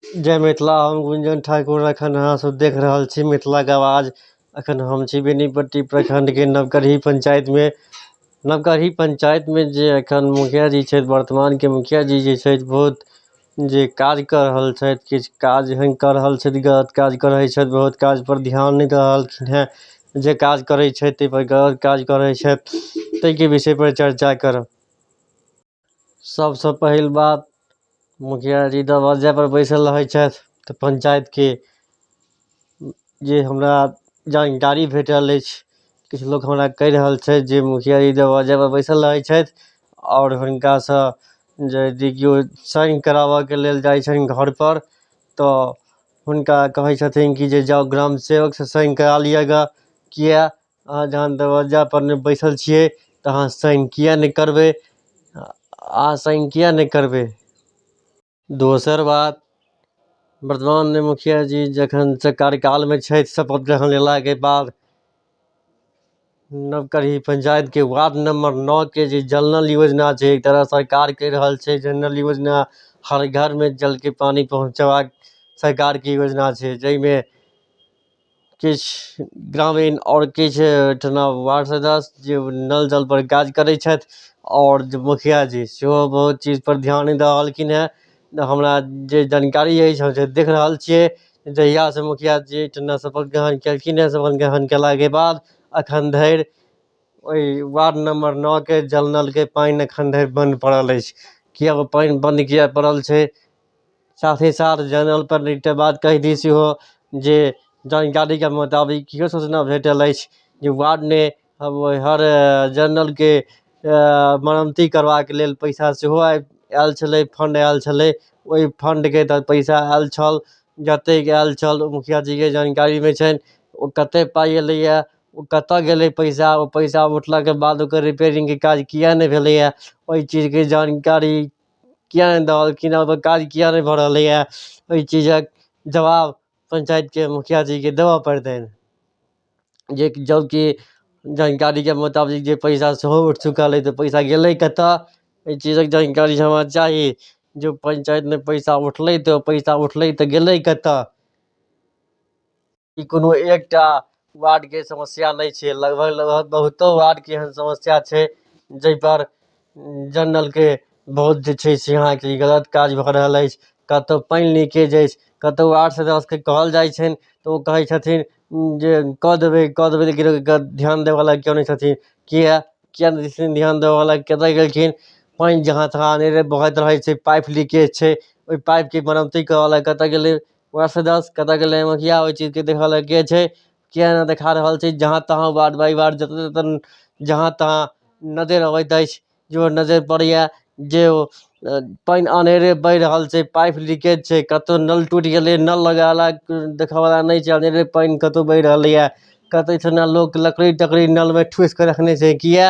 जय मिथिला हम गुंजन ठाकुर एखन अहाँ सब देख रहल छी मिथिलाके आवाज एखन हम छी बेनीपट्टी प्रखण्डके नवगढ़ी पञ्चायतमे नवगढ़ी पञ्चायतमे जे एखन मुखिया जी छथि वर्तमानके मुखिया जी जे छथि बहुत जे काज कऽ रहल छथि किछु काज एहन कऽ रहल छथि गलत काज करै छथि बहुत काज पर ध्यान नहि दऽ रहलखिन हँ जे काज करै छथि ताहि पर गलत काज करै छथि ताहिके विषय पर चर्चा करब सभसँ पहिल बात मुखिया जी दरवज्जापर बैसल रहै छथि तऽ पंचायतके जे हमरा जानकारी भेटल अछि किछु लोक हमरा कहि रहल छथि जे मुखिया जी दरवज्जापर बैसल रहै छथि आओर हुनकासँ यदि कियो साइन कराबयके लेल जाइ छनि घरपर तऽ हुनका कहै छथिन कि जे जाउ ग्राम सेवकसँ साइन करा लिअ गे किएक अहाँ जहन दरवाजापर नहि बैसल छियै तऽ अहाँ साइन किएक नहि करबै अहाँ साइन किएक नहि करबै दोसर बात वर्तमान मुखियाजी जखनसँ कार्यकालमे छथि शपथ ग्रहण लेलाके बाद नवगढ़ी पंचायतके वार्ड नम्बर नओके जे जल नल योजना छै एक तरह सरकार कहि रहल छै जे नल योजना हर घरमे जलके पानि पहुँचयबाक सरकारके योजना छै जाहिमे किछु ग्रामीण आओर किछु ओहिठिना वार्ड सदस्य जे नल जल पर काज करै छथि आओर जे मुखिया जी सेहो बहुत चीज पर ध्यान नहि दऽ रहलखिन हेँ नहि हमरा जे जानकारी अछि हम जे देख रहल छियै जहिया सँ मुखिया जी एहिठिना शपथ ग्रहण केलखिन हेँ शपथ ग्रहण कयलाके बाद एखन धरि ओहि वार्ड नम्बर नओ के जल नलके पानि एखन धरि बन्द पड़ल अछि किएक ओ पानि बन्द किएक पड़ल छै साथ ही साथ जनरल पर लिखते बाद कहि दी सेहो जे जानकारीके मोताबिक इहो सूचना भेटल अछि जे वार्डमे हर जनरलके मरमती करबाके लेल पैसा सेहो आबि आयल छलै फंड आयल छलै ओहि फंडके तहत पैसा आयल छल जतेक आयल छल ओ मुखिया जीके जानकारीमे छनि ओ कतेक पाइ एलैए ओ कतय गेलै पैसा ओ पैसा उठलाके बाद ओकर रिपेयरिंगके काज किएक नहि भेलैए ओहि चीजके जानकारी किए नहि दऽ देलखिन हँ काज किए नहि भऽ रहलै हँ ओहि चीजक जवाब पञ्चायतके मुखिया जीके देबऽ पड़तनि जे जब कि जानकारीके मोताबिक जे पैसा सेहो उठि चुकल अछि तऽ पैसा गेलै कतऽ एहि चीजक जानकारी हमरा चाही जे पञ्चायतमे पैसा उठलै तऽ पैसा उठलै तऽ गेलै कतऽ ई कोनो एकटा वार्डके समस्या नहि छै लगभग लगभग बहुतो वार्डके एहन समस्या छै जाहिपर जल नलके बहुत जे छै से अहाँके ई गलत काज भऽ रहल अछि कतहु पानि लीकेज अछि कतहु वार्ड सदस्यकेँ कहल जाइ छनि तऽ ओ कहै छथिन जे कऽ देबै कऽ देबै लेकिन ओहिपर ध्यान देबयवला केओ नहि छथिन किएक किएक नहि छथिन ध्यान देबयवला कतय गेलखिन पानि जहाँ तहाँ अनेरे बहैत रहै छै पाइप लीकेज छै ओहि पाइपके मरम्मती करयवला कतय गेलै वार्ड सदस्य कतऽ गेलै मुखिया ओहि चीजके देखऽ लए के छै किए नहि देखा रहल छै जहाँ तहाँ वार्ड बाइ वार्ड जतऽ ततऽ जहाँ तहाँ नजैर अबैत अछि जँ नजैर पड़ैया जे ओ पानि अनेरे बहि रहल छै पाइप लीकेज छै कतौ नल टुटि गेलै नल लगेला देखऽ बला नहि छै अनेरे पानि कतौ बहि रहलैया कतौ लोक लकड़ी तकड़ी नलमे ठुसि कऽ रखने छै किए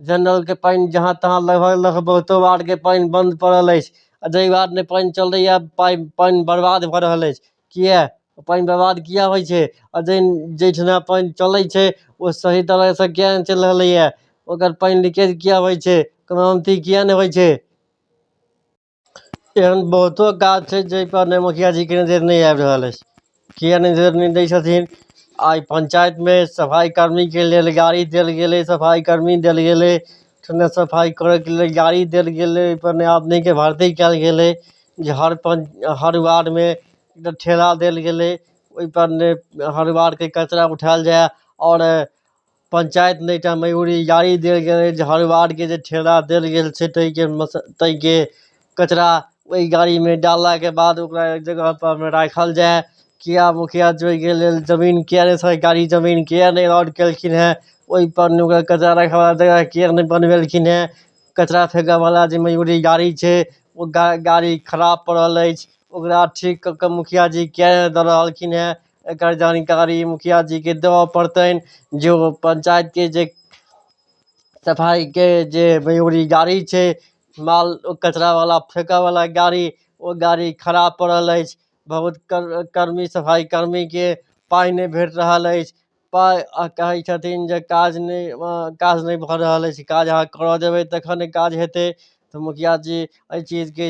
जनरलके पानि जहाँ तहाँ लगभग लगभग बहुतो वार्डके पानि बन्द पड़ल अछि आ जाहि वार्डमे पानि चलैए पाइ पानि बर्बाद भऽ रहल अछि किए पानि बर्बाद किए होइ छै आ जाहि जाहिठिना पानि चलै छै ओ सही तरहसँ किए नहि चलि रहलैए ओकर पानि लीकेज किए होइ छै कोनो अथी किए नहि होइ छै एहन बहुतो काज छै जाहिपर ने मुखिया जीके नजरि नहि आबि रहल अछि किए नजरि नहि दै छथिन आइ पञ्चायतमे सफाइ कर्मीके लेल गाड़ी देल गेलै सफाइ कर्मी देल गेलै ने सफाइ करैके लेल गाड़ी देल गेलै ओहिपर ने आदमीके भर्ती कयल गेलै जे हर पञ्च हर वार्डमे ने ठेला देल गेलै ओहिपर ने हर वार्डके कचरा उठायल जाय आओर पंचायत नहि टा मयूरी गाड़ी देल गेल अछि जे हर वार्डके जे ठेला देल गेल छै ताहिके मस ताहिके कचरा ओहि गाड़ीमे डाललाके बाद ओकरा एक जगहपर राखल जाय किया मुखिया जी ओहिके लेल जमीन किया नहि सरकारी जमीन किया नहि अलॉट केलखिन हेँ ओहिपर नहि ओकर कचरा राखयवला जगह किया नहि बनबेलखिन हेँ कचरा फेँकयवला जे मयूरी गाड़ी छै ओ गा गाड़ी खराब पड़ल अछि ओकरा ठीक कऽ कऽ मुखिया जी किया नहि दऽ रहलखिन हेँ एकर जानकारी मुखिया जीके देबऽ पड़तनि जे ओ पञ्चायतके जे सफाइके जे मयूरी गाड़ी छै माल कचरावला फेकऽवला गाड़ी ओ गाड़ी खराब पड़ल अछि बहुत कर्मी सफाइ कर्मीके पाइ नहि भेट रहल अछि पाइ आओर कहै छथिन जे काज नहि काज नहि भऽ रहल अछि काज अहाँ करऽ जेबै तखन ने काज हेतै तऽ मुखिया जी अइ चीजके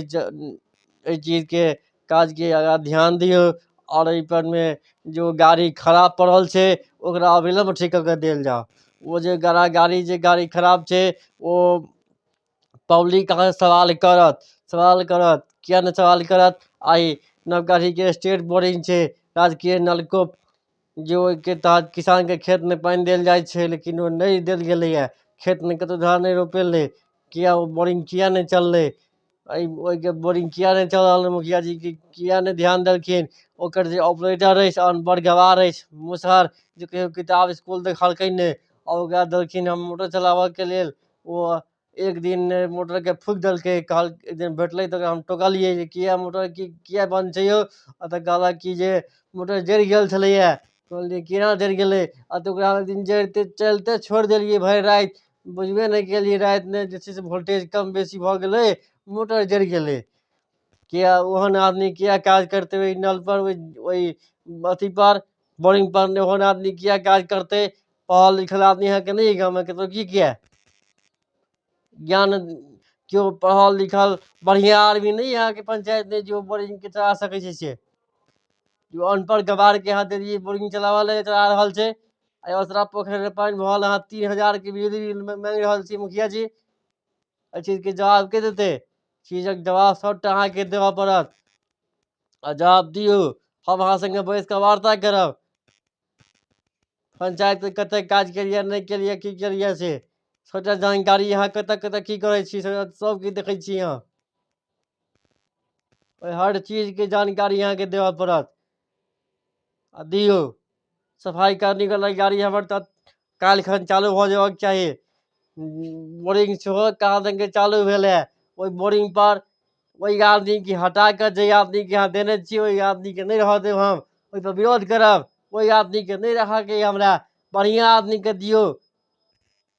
अइ चीजके काजके आगाँ ध्यान दियौ आओर एहिपर मे जे ओ गाड़ी खराब पड़ल छै ओकरा अविलम्ब ठीक कऽ के देल जाउ ओ जे गड़ा गाड़ी जे गाड़ी खराब छै ओ पब्लिक अहाँसँ सवाल करत सवाल करत किएक नहि सवाल करत आ ई नवगढ़ीके स्टेट बोरिंग छै राजकीय नलकूप जे ओहिके तहत किसानके खेतमे पानि देल जाइ छै लेकिन ओ नहि देल गेलैए खेतमे कतहु धान नहि रोपेलै किए ओ बोरिंग किए नहि चललै एहि ओहिके बोरिंग किए नहि चलल मुखियाजी कि किए नहि ध्यान देलखिन ओकर जे ऑपरेटर अछि आओर बड़ गँवार अछि मुसहर जे कहिओ किताब इसकुल देखलकै नहि आओर ओकरा देलखिन हम मोटर चलाबयके लेल ओ एक दिन मोटरके फूकि देलकै कहल एक दिन बैठलै तऽ ओकरा हम टोकलियै जे किए मोटर कि किए बन्द छै यौ आ तऽ कहलक कि जे मोटर जरि गेल छलैए कहलियै केना जरि गेलै आ तऽ ओकरा ओहि दिन जरिते चलिते छोड़ि देलियै भरि राति बुझबे नहि केलियै रातिमे जे छै से वोल्टेज कम बेसी भऽ गेलै मोटर जरि गेलै किए ओहन आदमी किए काज करतै ओहि नलपर ओहि ओहि अथीपर बोरिंग पर नहि होने आदमी किया काज करतै पढ़ल लिखल आदमी अहाँके नहि अइ गाममे कतहु की किया ज्ञान केओ पढ़ल लिखल बढ़िआँ आदमी नहि अइ अहाँके पंचायतमे जे ओ बोरिंगके चला सकै छै से जो अनपढ़ गवारके अहाँ देलियै बोरिंग चलाबय लए चला रहल छै आ ओसरा पोखरिमे पानि भऽ रहल अहाँ तीन हजारके बिजली बिल मा- मांगि रहल छी मुखिया जी एहि चीजके जवाब के देतै चीजक जवाब सभटा अहाँके देबय पड़त आ जवाब दियौ हम अहाँ सङ्गे बैस कऽ वार्ता करब पञ्चायतके कतेक काज केलियै नहि केलियै की केलियै से सभटा जानकारी अहाँ कतय कतय की करै छी से सभके देखै छी अहाँ ओहि हर चीजके जानकारी अहाँकेँ देबय पड़त आ दियौ सफाइ करनी गेलै गाड़ी हमर तऽ काल्हि खन चालू भऽ जेबाक चाही बोरिंग सेहो कहाँ दनके चालू भेल है ओहि बोरिंग पर ओहि आदमीके हटा कऽ जे आदमीके अहाँ देने छी ओहि आदमीके नहि रहऽ देब हम ओहिपर विरोध करब ओहि आदमीके नहि रहयके अइ हमरा बढ़िआँ आदमीकेँ दियौ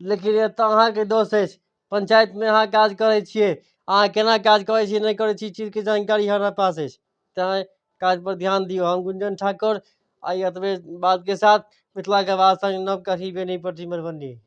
लेकिन एतऽ अहाँके दोष अछि पंचायतमे अहाँ काज करै छियै अहाँ केना काज करै छियै नहि करै छियै ई चीजके जानकारी हमरा पास अछि तैँ काज पर ध्यान दियौ हम गुंजन ठाकुर आइ एतबे बातके साथ मिथिलाके वास्ते नवका ही बेनीपट्टी मधुबनी